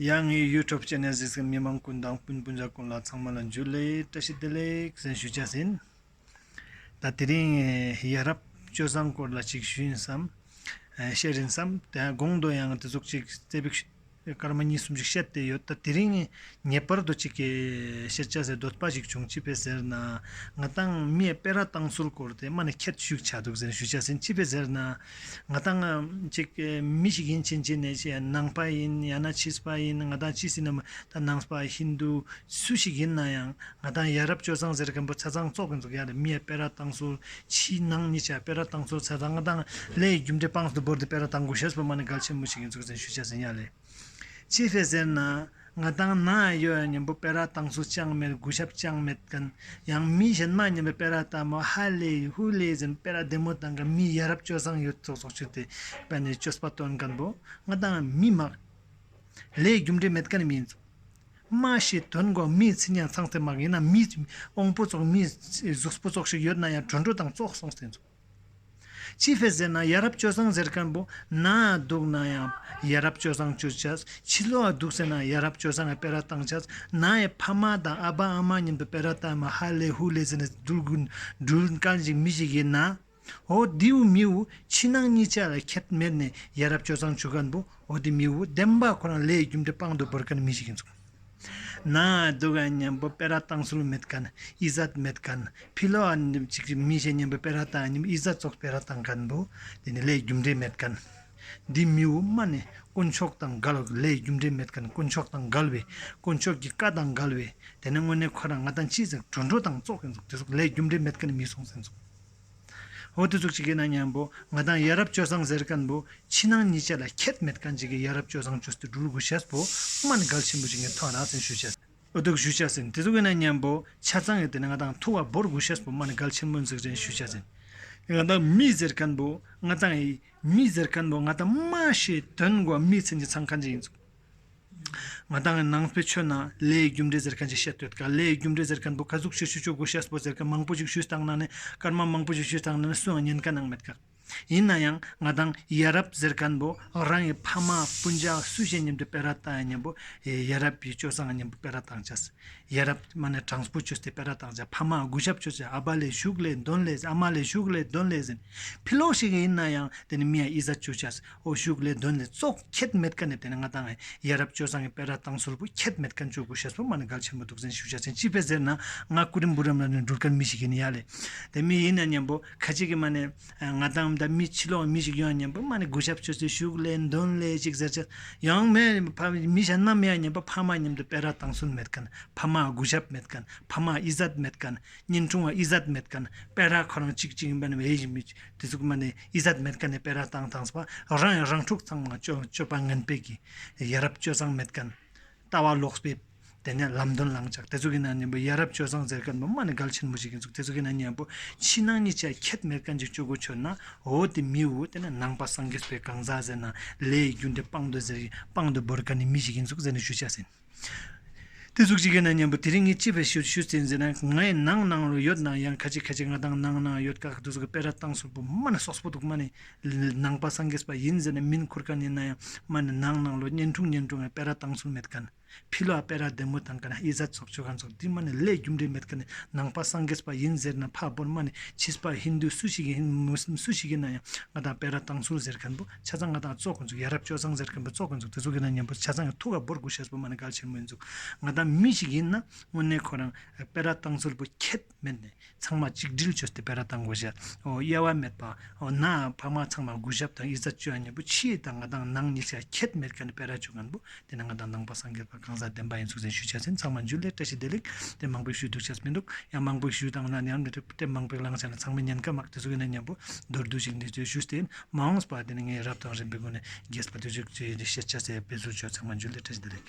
ཡང་ངས་ཡུལ་ཁྲོ་བཅས་ནས་གཟིགས་སའི་མི་མང་ཀུན་དང་སྤུན་སྤུན་ཟླ་ཀུན་ལ་ཚང་མ་ལ་འཇུ་ལེ་བཀྲ་ཤིས་བདེ་ལེགས་གསན་ཞུ་བྱས་ཟིན། ད་དེ་རིང་ཡ་རབས་སྤྱོད་བཟང་སྐོར་ལ་ཅིག་ཞུ་ཡིན་བསམ། བཤད་རིན་བསམ། དགོང་དུ་ཡང་དེ་ཚོགས་ཅིག་རྩེ་ཕིགས་སྐར་མ་གཉིས་གསུམ་ཅིག་བཤད་བསྡད་ཡོད་ད་དེ་རིང་ངེས་པར་དུ་ཅིག་བཤད་བྱ་སའི་སྡོད་པ་ཞིག་བྱུང་ཅི་ཕེ་ཟེར་ན་ང་ཏང་མིའི་དཔེ་ར་བཏང་ཚུལ་སྐོར་དེ་མ་ནས་ཁྱད་ཞུགས་བྱ་འདུག་གསན་ཞུ་བྱས་ཟིན་ཅི་ཕེ་ཟེར་ན། ང་དང་ཅིག་མི་ཞིག་ཡིན་ཕྱིན་ཅི་ནས་ནང་པ་ཡིན་ཡང་ན་ཕྱིས་པ་ཡིན་ང་དང་ཅི་སྲིད་ནམ་ད་ནང་པ་ཧིན་རྡུ་སུ་ཞིག་ཡིན་ན་ཡང་ང་དང་ཡ་རབས་སྤྱོད་གཙང་ཟེར་མཁན་པོ་ཚེ་ཚང་བཙོག་གི་འཛུགས་ཡ་རེད་མིའི་དཔེ་ར་བཏང་སོ་ཕྱིའི་ནང་མི་ཆ་དཔེ་ར་བཏང་སོ་ཚེ་ཚང་དང་ལས་ཡི་རྒྱུ་འབྲས་སྤངས་སོ་སྒོར་དེ་དཔེ་ར་བཏང་དགོས་ཤེས་སོ་ཕོ་མ་ནི་གལ་ཆེན་མོ་ཞིག་ཡིན་ཚུལ་གསན་ཞུ་བྱས་ཟིན་ཡ་ལེ། ཅི་རེད་ཟེར་ན། ང་ཏང་ནང་ཡོད་ཡང་ཉན་པོ་དཔེ་ར་ཏང་སུ་ཅང་མེད་རྒུ་ཞབས་ཅང་མེད་མཁན། ཡང་མི་གཞན་མ་ཉན་པའི་དཔེ་ར་ལྟ་མོ་ཧ་ལས་ཡིན་ཧུ་ལས་ཟིན་དཔེ་ར་བདེ་མོ་ཏང་གི་མི་ཡ་རབས་སྤྱོད་བཟང་ཡོད་ཚོགས་ཚོགས་ཆུ་དེ་དཔེ་ནས་ཅོ་སྤ་སྟོན་མཁན་པོ་ང་ཏང་མི་མ་ལས་རྒྱུ་འབྲས་མེད་མཁན་མི་ཡིན་ཚོགས། མ་ཤེས་དོན་གོ་མི་ཚིག་ཉན་ཚང་ཚེ་མ་ཡིན་ན་མི་དབང་པོ་ཚོགས་མི་གཟུགས་པོ་ཚོགས་ཤིག་ཡོད་ན་ཡང་གྲོས་འགྲོ་དང་ཙོག་སོང་ཟེར་ཚོགས། ཅི་ཕེ་ཟེར་ན་ཡ་རབས་སྤྱོད་བཟང་ཟེར་མཁན་པོ་ན་འདུག་ན་ཡང་ཡ་རབས་སྤྱོད་བཟང་བྱོས་བྱས་ཕྱི་ལོག་འདུག་ཟེར་ན་ཡ་རབས་སྤྱོད་བཟང་གི་དཔེ་ར་བཏང་བྱས་ན་ཡི་ཕ་མ་དང་ཨ་ཕ་ཨ་མ་མཉམ་དུ་དཔེ་ར་བཏང་མ་ཧ་ལས་ཧུ་ལས་ཟེར་ནས་འདུག་དགུ་འགྲུལ་དཀར་འཇིགས་མི་ཞིག་ཡིན་ན་ཨོ་དེའུ་མིའུ་ཕྱི་ནང་གཉིས་ཆ་ལ་ཁྱད་མེད་ནས་ཡ་རབས་སྤྱོད་བཟང་བྱོས་མཁན་པོ་ཨོ་དེ་མིའུ་བདེན་པ་ཁོ་རང་ལས་རྒྱུ་འབྲས་པང་དུ་བོར་མཁན་མི་ཞིག་ཡིན་ཚོད། ནའི་སྡུག་བསྔལ་གཉེན་པོ་པེ་ར་དང་སུལ་མེད་ཀན་ཨི་ཟད་མེད་ཀན་ཕི་ལོ་ཨ་ནི་ཅིག་རིག་མི་ཤེས་གཉེན་པོ་པེ་ར་དང་ཨ་ནི་ཨི་ཟད་སོགས་པེ་ར་དང་ཀན་པོ་དེ་ནི་ལས་རྒྱུ་འབྲས་མེད་ཀན། འདི་མི་དབུ་མ་ནི་དཀོན་མཆོག་དང་འགལ་བ་ལས་རྒྱུ་འབྲས་མེད་ཀན་དཀོན་མཆོག་དང་འགལ་བས་དཀོན་མཆོག་གི་བཀའ་དང་འགལ་བས་དེ་ནི་དངོས་གནས་ཁོ་རང་ང་དང་ཅི་ཟེར་འགྲོ་འགྲོ་དང་ཙོག་གིན་ཙོག་དེ་སོགས་ལས་རྒྱུ་འབྲས་མེད་ཀན་མི་གསུང་ཟིན་ཙོག། ཧོ་དེ་ཚོ་ཅི་གི་ན་མྱང་པོ་ང་དང་ཡ་རབས་སྤྱོད་བཟང་ཟེར་གནས་པོ་ཕྱི་ནང་གཉིས་ཆ་ལ་ཁྱད་མེད་གང་ཅི་གི་ཡ་རབས་སྤྱོད་བཟང་ཅོ་སྟེ་འགྲུལ་དགུ་བྱས་པོ་མ་ནི་གལ་ཆེན་པོ་ཅི་གི་ན་ཐང་རག་ཟིན་ཞུ་བྱས། ཨོ་དུག་ཞུ་བྱས་ཟིན་དེ་ཚོ་གི་ན་མྱང་པོ་ཆ་ཚང་གི་དེ་ནི་ང་དང་ཐུ་བ་འབོར་དགུ་བྱས་པོ་མ་ནི་གལ་ཆེན་པོ་འཛིག་རན་ཞུ་བྱས་ཟིན། ང་དང་མི་ཟེར་གནས་པོ་ང་དང་ཡི་མི་ཟེར་གནས་པོ་ང་དང་མ་ཞེས་དོན་གོ་མི་ཚན་གྱི་ཚང་གང་ཅི་ཡིན་ཚོ། ང་ལྟ་ངའི་ནང་པའི་ཆོས་ནང་ལས་ཡི་རྒྱུ་འབྲས་ཟེར་མཁན་ཞིག་བཤད་འདོད་དཀའ་ལས་ཡི་རྒྱུ་འབྲས་ཟེར་མཁན་པོ་ཁ་ཟུག་ཆུ་ཆུ་ཆུ་གོ་ཤེས་པོ་ཟེར་མཁན་མང་པོ་ཞིག་ཞུས་དང་ནང་ནས་སྐར་མ་མང་པོ་ཞིག་ཞུས་དང་ནང་ནས་སུའང་ཉན་ཀ་ནང་མེད་ཀ། ཡིན་ན་ཡང་ང་དང་ཡ་རབས་ཟེར་མཁན་པོ་རང་གི་ཕ་མ་སྤུན་ཆ་སུ་ཞིག་ཉམས་དུ་སྤེལ་ར་དང་ཉམས་པོ་ཡ་རབས་ཀྱི་སྤྱོད་བཟང་ཉམས་པོ་སྤེལ་ར་དང་བྱས། ཡ་རབས་ཀྱི་མ་ནས་དྲང་པོ་ཆོས་དེ་སྤེལ་ར་དང་བྱས་ཕ་མ་གུས་ཞབས་ཆོས་བྱས་ཨ་ཕ་ལས་ཞུགས་ལས་འདོན་ལས་ཟེར་ཨ་མ་ལས་ཞུགས་ལས་འདོན་ལས་ཟེར། ཕི་ལོག་ཞིག་ཡིན་ན་ཡང་དེ་ནས་མི་ཡ་ཨི་ཟ་ཆོས་བྱས། ཨོ་བཞུགས་ལས་དོན་ལས་གཙོ་ཁྱད་མེད་ཀ་ནས་བལྟས་ན་ང་དང་ཡ་རབས་སྤྱོད་བཟང་གི་དཔལ་ར་ཏང་ཟུར་བུ་ཁྱད་མེད་ཀ་འཇོག་གུ་ཤ་ཟུར་མ་ནི་གལ་ཆེན་པོ་འདུག་བཙན་ཤུགས་ཤ་ཆེན་སྤྱི་པའི་ཟེར་ན་ང་སྐུ་རིམ་བུ་རམ་ལ་ནི་འགྲུར་ཀ་མི་ཞིག་ཡིན་ཡ་ལེ་དེ་མི་ཡིན་ན་སྙམ་པོ་ཁ་ཅིག་གི་མ་ནི་ང་དང་མདའ་མི་ཕྱི་ལོག་མི་ཞིག་ཡོང་ཡ་སྙམ་པོ་མ་ནི་གུ་ཤ་བཅོས་ཚུལ་བཞུགས་ལས་འདོན་ལས་ཅིག་ཟེར་ཆ་ཡང་མེད་ཕ་མི་ཤ་ནམ་ཡ་སྙམ་པོ་ཕ་མ་མཉམ་དུ་དཔལ་ར་ཏང་ཟུར་མེད་ཀ་ནི་ཕ་མ་གུ་ཤ་མེད་ཀ་ནི་ཕ་མ་ཨི་ཟད་མེད་ཀ་ནི་གཉེན་འཁྲུང་བ་ཨི་ཟད་མེད་ཀ་ནི་དཔལ་ར་ཁོ་རང་གཅིག་གཅིག་ཡིན་པ་ནི་འེ་ཡིན་མི་དེ་ཚོ་གི་མ་ནི། ཨི་ཟད་མེད་ཀ་ནས་སྤེལ་ར་དང་དང་སྤ་རང་ཡང་རང་འཁྲུག་ཚང་མ་སྤྱོད་པ་ངན་སྤེལ་གི་ཡ་རབས་སྤྱོད་བཟང་མེད་ཀན་ལྟ་བ་ལོག་སྤེལ་དེ་ནས་ལམ་དོན་ལངས་ཅག་དེ་ཚོ་གི་ནང་ནས་ཡ་རབས་སྤྱོད་བཟང་ཟེར་ཀན་པ་མ་ནི་གལ་ཆེན་མོ་ཞིག་ཡིན་ཚུགས་དེ་ཚོ་གི་ནང་ནས་པོ་ཕྱི་ནང་གཉིས་ཆ་ཁད་མེད་ཀན་ཅིག་སྤྱོད་གོ་ཆོད་ན་འོ་དེ་མི་འོ་དེ་ནས་ནང་པ་སངས་རྒྱས་སྤེལ་གང་ཟག་ཟེར་ན་ལས་ཡི་རྒྱུ་འབྲས་སྤང་འདོད་ཟེར་སྤང་འདོད་བོར་ཀན་ནི་མི་ཞིག་ཡིན་ཚུགས་ཟེར་ནས་ཞུ་བྱ་ཟིན། དེ་གཟུགས་ཅི་གའི་ན་སྙམ་པ་དེ་རིང་ངས་ཅི་བས་ཞུ་ཞུ་ཟེར་ཟེར་ན་ངའི་ནང་ནང་རུ་ཡོད་ནང་ཡང་ཁ་ཅིག་ཁ་ཅིག་ང་དང་ནང་ནང་ཡོད་དགག་བསྡུས་ཀྱི་དཔེ་ར་བཏང་སོག་པོ་མ་ནི་སོགས་པོ་འདུག་མ་ནི་ནང་པ་སངས་རྒྱས་པ་ཡིན་ཟེར་ནས་མིན་འཁུར་ག་ནི་ན་ཡང་མ་ནི་ནང་ནང་ལོ་བསྙེན་ཐུང་བསྙེན་ཐུང་གི་དཔེ་ར་བཏང་སོག་མེད་ག་ནི་ཕི་ལོ་ཨ་དཔེ་ར་བདེ་མོ་དང་ག་ནི་ཨི་ཟད་སོགས་ཆོས་གང་ཚོགས་འདི་མ་ནི་ལས་རྒྱུ་འབྲས་མེད་ག་ནི་ནང་པ་སངས་རྒྱས་པ་ཡིན་ཟེར་ན་ཕ་བོར་མ་ནི་ཕྱིས་པ་ཧིན་དུ་སུ་ཞིག་གིས་ཧིན་མུ་སུམ་སུ་ཞིག་གིས་ན་ཡང་ང་དང་དཔེ་ར་བཏང་སོག་ཟེར་མཁན་པོ། ཆ་ཚང་ང་དང་གཙོ་དགོས་འཛུགས་ཡ་རབས་སྤྱོད་བཟང་ཟེར་མཁན་པོ་གཙོ་དགོས་འཛུགས་དེ་ཚོ་གི་ནང་ཉན་པོ་ཆ་ཚང་གི་ཐུགས་ཀ་འབོར་དགུ་ཤར་བུ་མ་ནི་ག་ལ་ཆེར་མོས་འཛུགས་ང་དང་མི་ཞིག་ཡིན་ན་དངོས་གནས་ཁོ་རང་དཔེ་ར་བཏང་ཚུལ་པོ་ཁྱད་མེད་ནས་ཚང་མ་གཅིག་སྒྲིལ་བྱོས་ཏེ་དཔེ་ར་བཏང་དགོས་ཞེས་འོ་གཡེལ་བ་མེད་པ་ན་ཕ་མ་ཚང་མ་གུས་ཞབས་དང་ཡིད་ཚ་བཅོས་ཡ་ཉན་པོ་ཕྱི་ཡི་དང་ང་དང་ནང་གཉིས་ཆ་ཁྱད་མེད་ག་ནི་དཔེ་ར་བྱོས་མཁན་པོ་དེ་ནང་ང་དང་ནང་པ་སངས་རྒྱས་པ་གང་ཟག་བདེན་པ་ཡིན་ཚུལ་རེ་ཞུ་བྱ་ཟིན་ཚང་མ་འཇུ་ལེ་བཀྲ་ཤིས་བདེ་ལེགས་དེ་མང་པོས་ཞུས་འདུག་བྱས་མི་འདུག་ཡང་མང་པོས་ཞུས་དང་ན་ནི་ཡང་མི་འགྲིག་དེབ་མང་པོའི་བླང་བྱ་ལ་ཚང་མས་ཉན་ཀ་མ་ཀ་དེ་ཚོ་ཡོད་ན་སྙན་པོ་མདོར་བསྡུས་ཤིག་འདི་ཚོའི་ཞུ་རྟེན་མ་འོངས་པ་དེ་ནི་ངས་རབ་དང་རིམ་པའི་སྒོ་ནས་རྒྱས་པ་དུས་ཚོད་ཀྱི་བཤད་བྱ་ཟད་པའི་ཟུར་བརྗོད་ཚང་མ་འཇུ་ལེ་བཀྲ་ཤིས་བདེ་ལེགས།